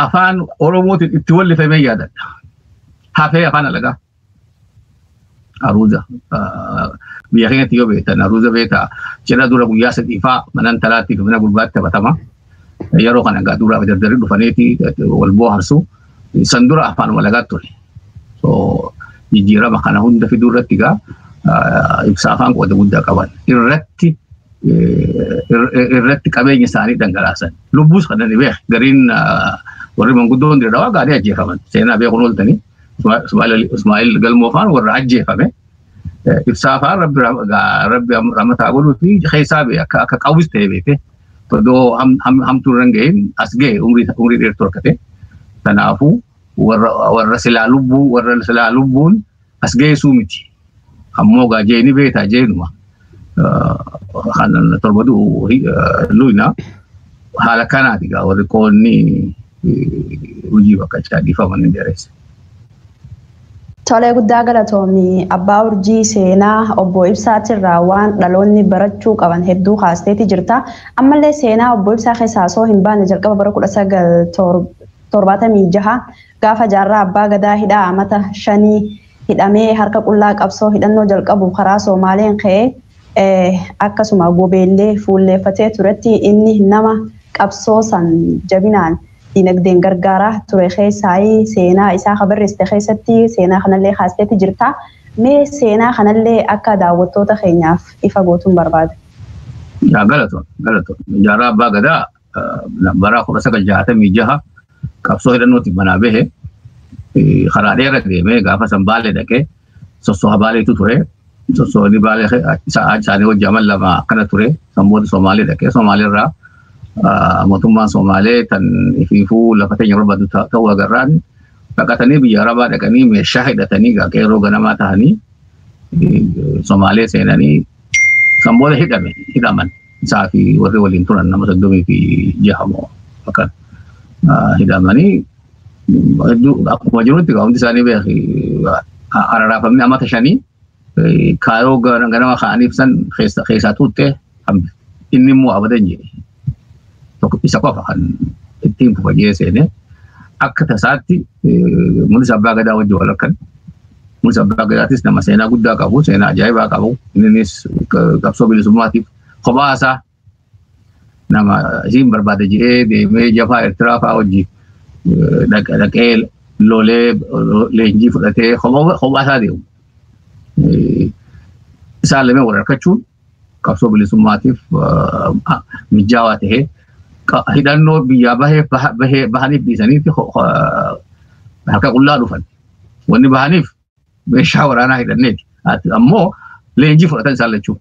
afaan oromootiin itti wallifamee yaadadha. Hafee afaan alagaa. Aruuza. Biyya keenyatti yoo beektan aruuza beekaa cidha dura guyyaa sadii faa mana intalaatti mana gurbaatti taphatama. Yeroo kana egaa dura dardarri dhufaniiti wal booharsu. San dura afaan walagaa ture. Jijjiirama kana hunda fiduu irratti egaa ibsa afaan qooda guddaa qaban. Irratti irratti qabeenya isaanii dhangalaasan. Lubbuus kan inni beeku gariin warri manguddoon dirree dawaa gaarii ajjeefaman. Seenaa beekuun ooltanii. Ismaa'il Galmoofaan warra ajjeefame. Ibsaa fa'aa rabbi rabbi ramataa godhuu fi keessaa bee akka akka qawwis ta'e beekte. Odoo hamtuu irra hin gahin as gahe umrii umrii dheertuu akka ta'e. Kanaafuu warra warra silaa lubbuu warra silaa lubbuun as geessuu miti. Ammoo gaa jeeni beeta jeenuma kan torba du'u luyna haala kanaati gaa warri qoonni hojii bakka caa dhiifaman hin dheeressa. Tolee guddaa galatoomi abbaa urjii seenaa obbo Ibsaatirraa waan dhaloonni barachuu qaban hedduu kaasteeti jirta. Ammallee seenaa obbo Ibsaa keessaa osoo hin baane jalqaba bara kudha sagal torbaatamii jaha Gaafa Jaarraa Abbaa Gadaa hidhaa amata shanii hidhamee harka qullaa qabsoo hidhannoo jalqabu karaa Soomaaleen ka'ee akkasuma Gobeellee fuulleeffatee turetti inni nama qabsoo san jabinaan dinagdeen gargaaraa ture keessaayii seenaa isaa ka barreessite keessatti seenaa kanallee kaasteetti jirta. Mee seenaa kanallee akka daawwattoota keenyaaf ifa gootuun barbaada. Yaa galatoo galatoo jaarraa abbaa gadaa bara kudha sagal jaatamii jaha qabsoo hidhannootiif manaa bahe karaa dheera deemee gaafa san baalee dhaqee sossoha baaleetu ture. Sossoonni baalee isaanii hojii amal lama akkana ture. San booda Somaalee dhaqee Somaalee irraa mootummaan Somaalee tan ifiifuu lafa teenya barbaadu ta'uu agarraan baqatanii biyya Arabaa dhaqanii meeshaa hidhatanii qeerroo ganamaa ta'anii Somaalee seenanii Kan booda hidhame hidhaman isaa fi warri waliin turan nama soddomii fi jaha moo akkan hidhamanii hedduu akkuma jirutti gaa hundi isaanii beeki araraafamni amata shanii kaayoo ganama ka'aniif san keessaa tuuttee hambi inni immoo abadan jedhe. tokko isa qofa kan ittiin fufa jee seene akka tasaatti mul'isa abbaa gadaa wajjin wal harkan mul'isa abbaa gadaatis nama seenaa guddaa qabu seenaa ajaa'ibaa qabu innis qabsoo bilisummaatiif kophaa isaa nama isiin barbaada jedhee deemee jafaa Eertiraa fa'aa wajjin dhaqee lolee leenjii fudhatee kophaa isaa deemu. Isaan lameen wal harkachuun qabsoo bilisummaatiif mijaawaa ta'ee hidhannoo biyyaa bahee bahee bahaniif dhiisaniitti harka qullaa dhufan. Wanni bahaniif meeshaa waraanaa hidhanneeti. Ammoo leenjii fudhatan isaan lachuu.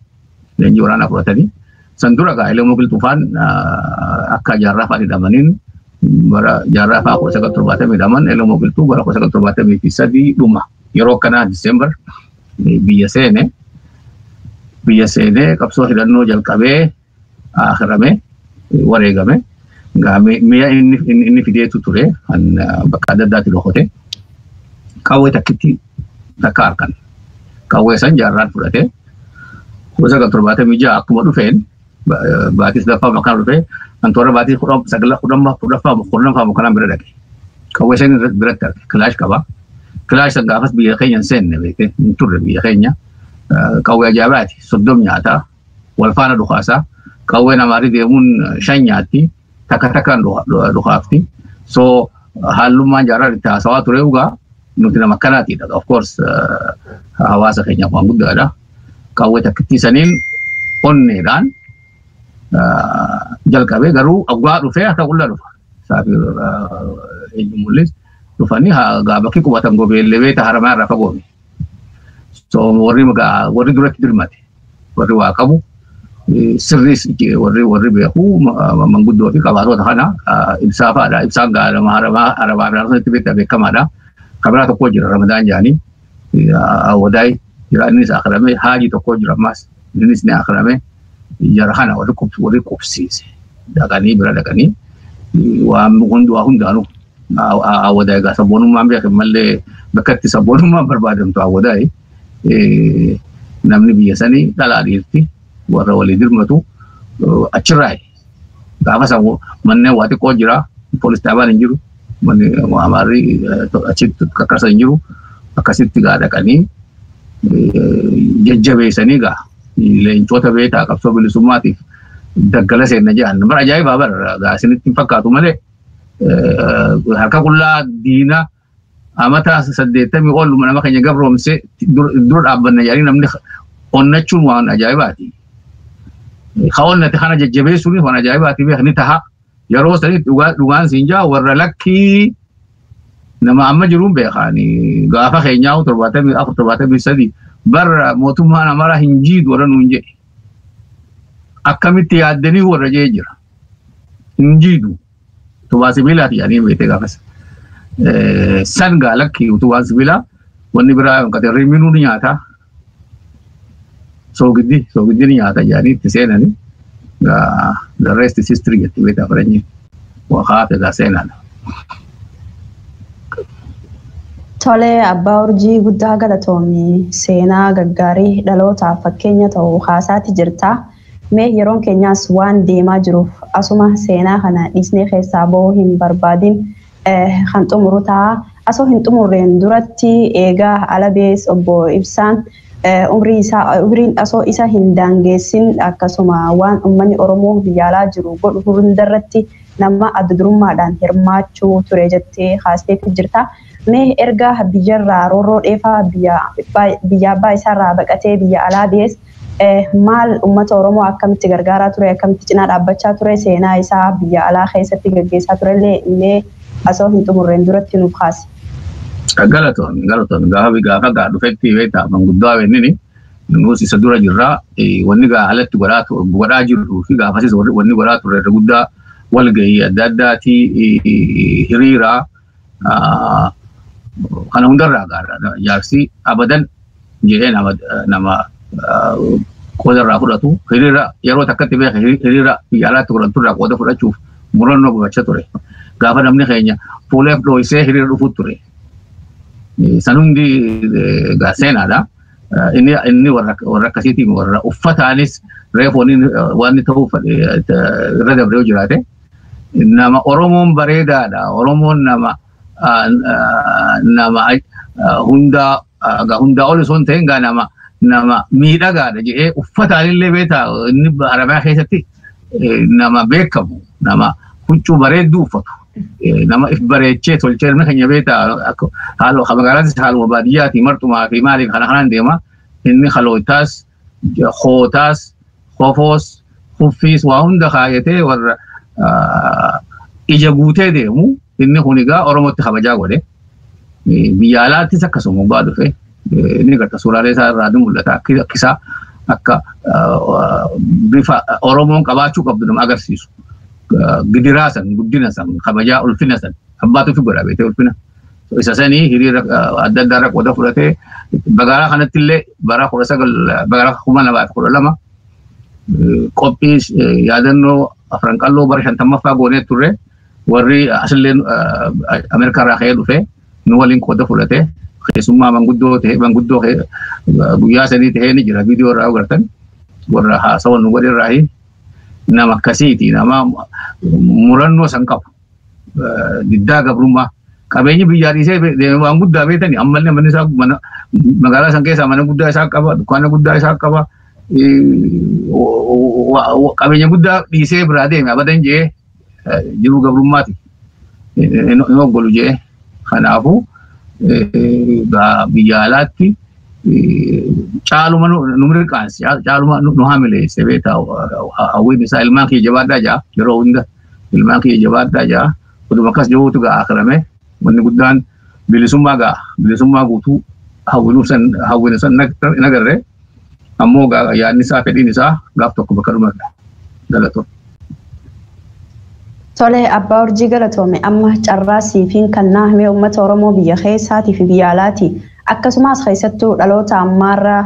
Leenjii waraanaa fudhatanii san dura gaa Elemoo Qilxufaan akka jaarraa fa'aa hidhamaniin bara jaarraa fa'aa kudha sagal torbaatamii hidhaman Elemoo Qilxuu bara kudha sagal torbaatamii fi sadii dhuma. Yeroo akkanaa Diseembar biyya seene biyya seenee qabsoo hidhannoo jalqabee akirame wareegame mi'a inni fideetu ture kan bakka adda addaatti dhokote qawwee takkitti takka harkan qawwee san jaarraan fudhate kuma sagal torbaatamii ja'a akkuma dhufeen baatii sadaffaa makaan dhufee kan toora baatii kudhan sagla kudhanfaa kudhanfaa kudhanfaa makaan bira dhaqe. Qawwee shan irratti biratti arge kilaash qaba. Kilaash san gaafas biyya keenya hin seenne beekte hin turre biyya keenya. Qawwee ajaa'ibaati soddom nyaataa wal faana dhukaasaa qawwee namaarii deemuun shan nyaatti takka takkaan dhukaafti. So haalummaan jaarraa itti haasawaa ture dhugaa nuti nama akkanaati of course hawaasa keenyaaf waan guddaadha qawwee takkittii saniin onneedhaan jalqabee garuu oggaa dhufee akka qullaa dhufa saafii eenyu mul'is dhufanii gaa bakki qubatan gobeellee beeta haramaa irraa fagoome so warri warri duratti dirmate warri waa qabu sirriis warri warri beeku manguddoo fi qabaatota kana ibsaa fa'aadha. Ibsaan gaalama arabaa arabaa irraa sanitti beektaa beekamaadha. Kabiraa tokko jira ramadaan jaanii wadaay jira innis akirame haajii tokko jira ammaas innis ni akirame jara kana warri qubsiise dhaqanii bira dhaqanii waan hundaanuu Awwadaa egaa sabboonummaan beekan malee bakka itti sabboonummaan barbaadamtu awwadaa namni biyya sanii dhalaa dhiirti warra walii dirmatu achirraa gaafa san manneen waa xiqqoo jira poolis dhaabaan hin jiru manni amaarri achitti kakkarsa hin jiru akkasitti gaa dhaqanii jajjabeessanii gaa leencoota beekaa qabsoo bilisummaatiif daggala seenna jedhan bara ajaa'ibaa bara gaa isinitti hin fakkaatu malee harka qullaa diina amata saddeettamii ol nama keenya gabroomse dura dhaabbanna jedhanii namni onnachuun waan ajaa'ibaati. Ka onnate kana jajjabeessuun waan ajaa'ibaati beekni taha. Yeroo sanitti dhugaan siin jaa warra lakkii nama amma jiruun beekaani gaafa keenyaa torbaatamii afur torbaatamii sadii bara mootummaan amara hin jiidu warra nuun jedhe. Akkamitti yaaddanii warra jee jira. hin jiidhu utubaa sibiilaati jedhanii beekte gaafas. San gaa lakki utubaan sibiilaa wanni biraa hin qabne riminuu ni nyaata. Soogiddi soogiddi ni nyaata jedhanii itti seenanii the rest is history jetti beekta faranjiin. Waqaa fedha seenaadha. Tole abbaa urjii guddaa galatoomi seenaa gaggaarii dhalootaaf fakkeenya ta'u haasaati jirta. Mee yeroon keenyaas waan deemaa jiruuf asuma seenaa kana dhiisnee keessaa bahuu hin barbaadin kan xumuru ta'a. Asoo hin xumurreen duratti eega Alabees obbo Ibsaan umrii isaa umriin asoo isa hin daangeessin akkasuma waan ummanni Oromoo biyya alaa jiru godhu hundarratti nama adda durummaadhaan hirmaachuu ture jettee kaasteetti jirta. Mee erga biyyarraa roorroo dheefaa biyya biyya abbaa isaarraa baqatee biyya alaa bahees Maal ummata Oromoo akkamitti gargaaraa ture, akkamitti cinaa dhaabbachaa ture, seenaa isaa biyya alaa keessatti gaggeessaa turellee mee asoo hin xumurreen duratti nuuf kaasi. Galatoon galatoon gaafa gaafa gaa dhufetti beektaa manguddaa wennini nuus isa dura jirraa wanni gaa alatti godhaa tu- godhaa jirruu fi gaafasis warri- wanni godhaa turre irra guddaa walgahii adda addaatii hiriiraa Kana hundarraa gaarra jaarsi abadan jedhee nama nama qooda irraa fudhatu hiriira yeroo takkatti beeka hiriira biyya alaatti godhamtu irraa qooda fudhachuuf murannoo gubachaa ture. Gaafa namni keenya fuuleef dhooysee hiriira dhufuu ture. San hundi gaa seenaadha. Inni inni warra warra akkasiitiin warra uffataanis reefoon waan ta'uuf irra dabree jiraate nama Oromoon bareedaadha. Oromoon nama nama hundaa gaa hundaa ol osoo hin ta'in gaa nama nama miidhagaadha jedhee uffataan illee beektaa inni Arabiyaa keessatti nama beekamu nama huccuu bareedduu uffatu. nama if bareechee tolchee ilmi keenya beektaa haaluma magaalaatis haaluma baadiyyaati martumaa fi maaliif kana kanaan deema inni kalootaas kootaas kofoos kuffiis waa hunda kaayatee warra ija guutee deemu inni kun egaa oromootti kabajaa godhe biyya alaattis akkasuma gubbaa dhufe inni garta suuraalee isaa irraa ni mul'ata akkisaa akka bifa oromoon qabaachuu qabdu nama agarsiisu gidiraa san guddina san kabajaa ulfina san abbaatu fi godha beekee ulfina Isa sanii hiriira adda addaa irra qooda fudhatee magaalaa kanatti illee bara kudha sagal bara kuma lamaa fi kudha lama qophii yaadannoo afran qalloo bara shantammaffaa goonee turre warri asillee Ameerikaa irraa ka'ee dhufe nu waliin qooda fudhate keessummaa manguddoo ta'e manguddoo guyyaa sanii ta'ee ni jira viidiyoo irraa agartan warra haasawa nu godhe irraa nama akkasiiti nama murannoo san qabu. diddaa gabrummaa qabeenyi biyyaa dhiisee deeme waan guddaa beekani ammallee manni isaa mana magaalaa san keessaa mana guddaa isaa qaba dukkaana guddaa isaa qaba qabeenya guddaa dhiisee biraa deeme abadan jee jiruu gabrummaati hin oggolu jee kanaafuu biyya alaatti caaluma nu mirqaansi caaluma nu hamileesse beektaa hawwiin isaa ilmaan kiyya jabaadhaa jaa yeroo hunda ilmaan kiyya jabaadhaa ja'a oduma akkas jahuutu ga'a akirame wanni guddaan bilisummaa ga'a bilisummaa guutuu hawwinu san hawwinu san hin agarre ammoo yaadni isaa fedhiin isaa gaaf tokko bakka dhumarra galatoo. Tole abbaa urjii galatoome amma carraa siifiin kannaa himee uummata Oromoo biyya keessaatii fi biyya alaati. Akkasumas keessattuu dhaloota ammaarra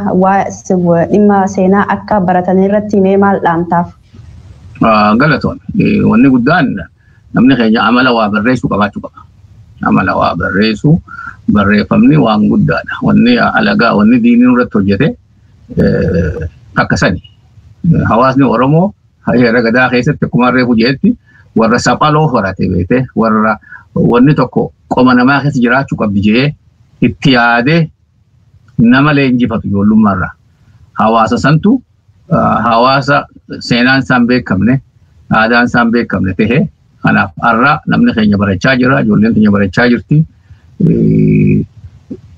dhimma seenaa akka baratan irratti himee maal dhaamtaaf? Galatoon wanni guddaan namni keenya amala waa barreessuu qabaachuu qaba. Amala waa barreessuu barreeffamni waan guddaadha. Wanni alagaa wanni diinii irratti hojjete akka sani. Hawaasni Oromoo heera gadaa keessatti akkuma reefu jedhetti warra saphaloo horate beekte warra wanni tokko qoma namaa keessa jiraachuu qabdi jedhee itti yaadee nama leenjifatu ijoollummaarraa. Hawaasa santu hawaasa seenaan isaan beekamne aadaan isaan beekamne ta'e kanaaf har'a namni keenya barachaa jira ijoolleen keenya barachaa jirti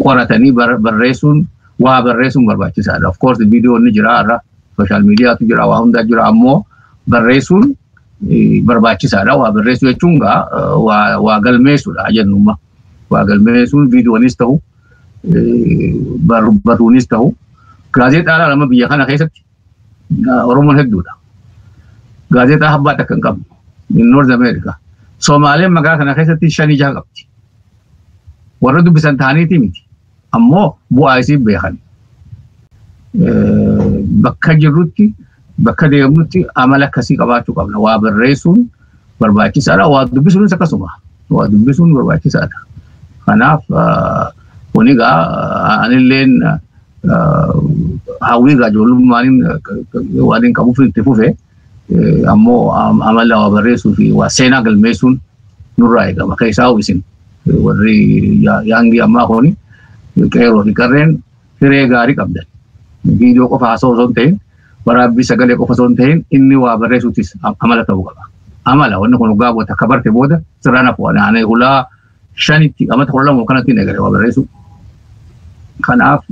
qoratanii barreessuun waa barreessuun barbaachisaadha. Of course viidiyoon ni jira har'a sooshaal miidiyaatu jira waa hundaa jira ammoo barreessuun barbaachisaadha. Waa barreessuu jechuun waa galmeessuudha jennummaa. Waa galmeessuun viidiyoonis ta'u barbaaduunis ta'u gaazexaadhaan amma biyya kana keessatti Oromoon hedduudha. Gaazexaa abbaa takka hin qabnu. Noorz Ameerikaa. Somaaleen magaalaa kana keessatti shan ijaa qabdi. Warra dubbisan ta'aniiti miti. Ammoo bu'aa isii beekan. Bakka jirrutti bakka deemnutti amala akkasii qabaachuu qabna. Waa barreessuun barbaachisaadha. Waa dubbisuunis akkasuma. Waa dubbisuun barbaachisaadha. Kanaaf kun egaa anilleen hawwii egaa ijoollummaaniin waan hin qabuuf itti fufe ammoo amala waa barreessuu fi waa seenaa galmeessuun nurraa eegama. Keessaa isin warri yaangii ammaa kuni qeeroo fi qarreen hiree gaarii qabdan. Viidiyoo qofa haasa'u osoo hin ta'in waraabbii sagalee qofa osoo hin ta'in inni waa barreessuutis amala ta'uu qaba. Amala wanni kun dhugaa boota akka barte booda sirraan hafu ani hulaa shanitti amata kudha lama kanatti hin eegale waa barreessuu. Kanaaf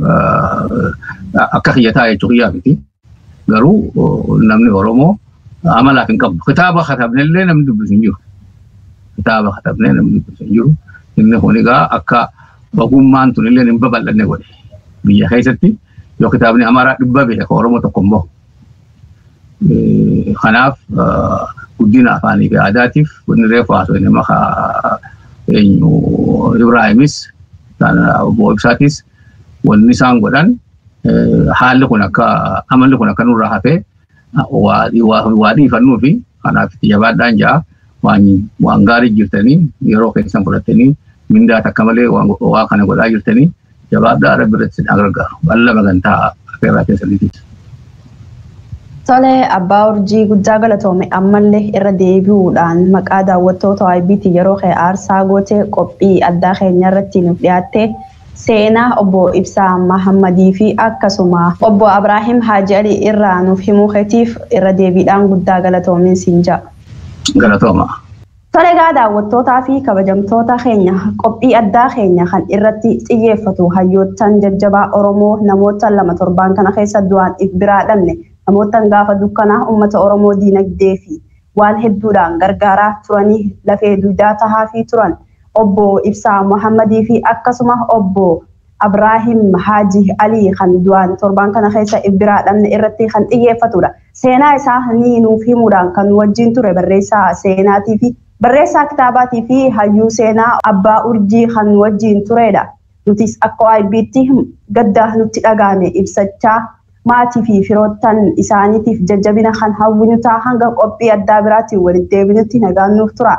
akka kiyyataa jechuu kiyyaa miti. Garuu namni Oromoo amalaaf hin qabu. Kitaaba katabne illee namni dubbisu hin jiru. Kitaaba katabne namni dubbisu hin jiru. Inni kun egaa akka ogummaan tun illee hin babal'anne godhe. Biyya keessatti yoo kitaabni Amaaraa dhibba beeka kan Oromoo tokko hin bahu. Kanaaf guddina afaanii fi aadaatiif inni reefu haasoo inni maka eenyu Ibraahimis obbo Ibsaatis wanni isaan godhan haalli kun akka amalli kun akka nurraa hafee waa dhiifannuu fi kanaaf itti jabaadhaan ja'a waan gaarii jirtanii yeroo keessan fudhattanii mindaa takka malee waa kana godhaa jirtanii jabaadhaa rabbi irratti sin gargaaru balla magantaa affeerraa keessaniitiis. Tole abbaa urjii guddaa galatoome ammallee irra deebi'uudhaan maqaa daawwattoota IBT yeroo kee aarsaa gootee qophii addaa keenya irratti nuuf dhiyaattee Seenaa Obbo Ibsaa Mahammadii fi akkasuma Obbo Abraahim Haaji Alii irraa nuuf himuu keetiif irra deebiidhaan guddaa galatoomi siin ja'a. Galatoomaa. Tole egaa daawwattootaa fi kabajamtoota keenya qophii addaa keenya kan irratti xiyyeeffatu hayyoottan jajjabaa Oromoo namoottan lama torbaan kana keessa du'aan if biraa dhabne namoottan gaafa dukkanaa ummata Oromoo diinagdee fi waan hedduudhaan gargaaraa turanii lafee duydaa tahaafii turan Obbo Ibsaa Mohammadii fi akkasuma Obbo Abraahim Haaji Alii kan du'aan torbaan kana keessa if biraa dhabne irratti kan xiyyeeffatudha. Seenaa isaa ni nuuf himuudhaan kan nu wajjiin ture barreessaa seenaatii fi barreessaa kitaabaatii fi hayyuu seenaa Abbaa Urjii kan nu wajjiin tureedha. Nutis akka AIBtti gadda nutti dhaga'ame ibsachaa, maatii fi firoottan isaaniitiif jajjabina kan hawwinu ta'a. Hanga qophii addaa biraatiin walitti deebinutti nagaan nuuf turaa.